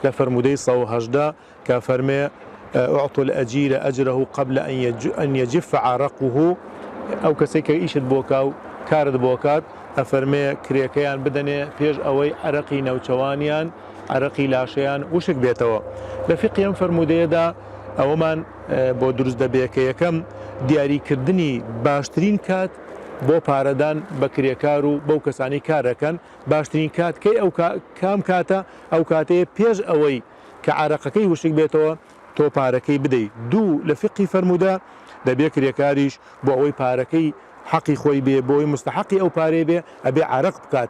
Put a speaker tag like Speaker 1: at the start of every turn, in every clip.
Speaker 1: لە فەرموودەی سەد و هەژدە کە فەرمێ، اعطوا الاجیر اجره قبل ان یجف عرقه، ئەو کەسەی کە ئیشت بۆ کا و کارت بۆ کات، ئەفەرمێ کرێکەیان بدەنێ پێش ئەوەی عەرەقی نەوچەوانیان، عەرەقی لاشەیان، وشک بێتەوە. لە فیقهی ئەم فەرموودەیەدا ئەوەمان بۆ دروست دەبێ کە یەکەم، دیاری کردنی باشترین کات بۆ پارەدان بە کرێکار و بەو کەسانەی کار ئەکەن، باشترین کات کەی ئەو کام کاتە؟ ئەو کاتەیە پێش ئەوەی کە عەرەقەکەی وشک بێتەوە تۆ پارەکەی بدەی دوو لە فیقهی فەرموودە دەبێ کرێکاریش بۆ ئەوەی پارەکەی حەقی خۆی بێ بۆ ئەوەی موستەحەقی ئەو پارەیە بێ ئەبێ عەرەق بکات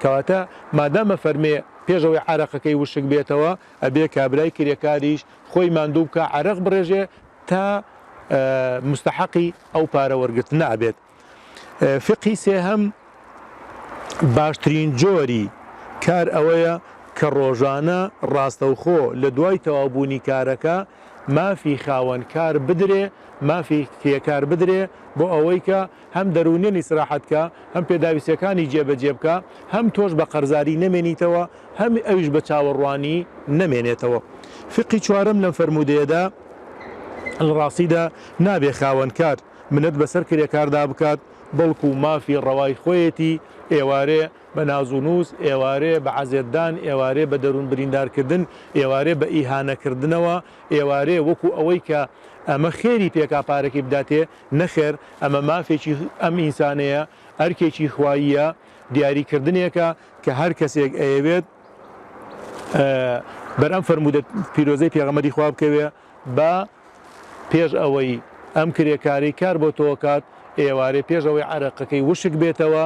Speaker 1: کەواتە مادام ئەفەرمێ پێش ئەوەی عەرەقەکەی وشک بێتەوە ئەبێ کابرای کرێکاریش خۆی ماندوو بکا عەرەق بڕێژێ تا موستەحەقی ئەو پارە وەرگرتنە ئەبێت. فیقهی سێهەم، باشترین جۆری کار ئەوەیە کە ڕۆژانە ڕاستەوخۆ لە دوای تەواوبوونی کارەکە مافی خاوەن کار بدرێ، مافی کرێکار بدرێ بۆ ئەوەی کە هەم دەروونیەن ئیسراحەت کا، هەم پێداویستیەکانی جێ بەجێ بکا، هەم تۆش بە قەرزاری نەمێنیتەوە، هەم ئەویش بە چاوەڕوانی نەمێنێتەوە. فیقهی چوارەم لەم فەرموودەیەدا، لە ڕاستیدا نابێ خاوەن کار، منەت بەسەر کرێکاردا بکات، بەڵکو مافی ڕەوای خۆیەتی، ئێوارێ بە ناز و نووس، ئێوارێ بە عەزێتدان، ئێوارێ بە دەروون بریندارکردن، ئێوارێ بە ئیهانەکردنەوە، ئێوارێ وەکو ئەوەی کە ئەمە خێری پێکا پارەکەی بداتێ، نەخێر ئەمە مافێکی ئەم ئینسانەیە، ئەرکێکی خواییە، دیاریکردنێکە کە هەر کەسێک ئەیەوێت بەر ئەم فەرموودە پیرۆزەی پێغەمبەری خوا بکەوێ، با پێش ئەوەی ئەم کرێکارەی کار بۆ تۆ کات ئێوارێ پێش ئەوەی عەرەقەکەی وشک بێتەوە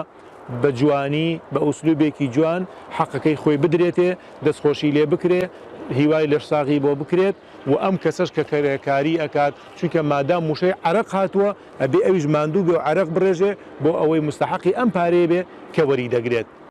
Speaker 1: بە جوانی بە ئوسلوبێکی جوان حەقەکەی خۆی بدرێتێ دەستخۆشی لێ بکرێ هیوای لەشساغی بۆ بکرێت و ئەم کەسەش کە کرێکاری ئەکات چونکە مادام وشەی عەرەق هاتووە ئەبێ ئەویش ماندوو بێ و عەرەق بڕێژێ بۆ ئەوەی مستەحەقی ئەم پارەیە بێ کە وەری دەگرێت.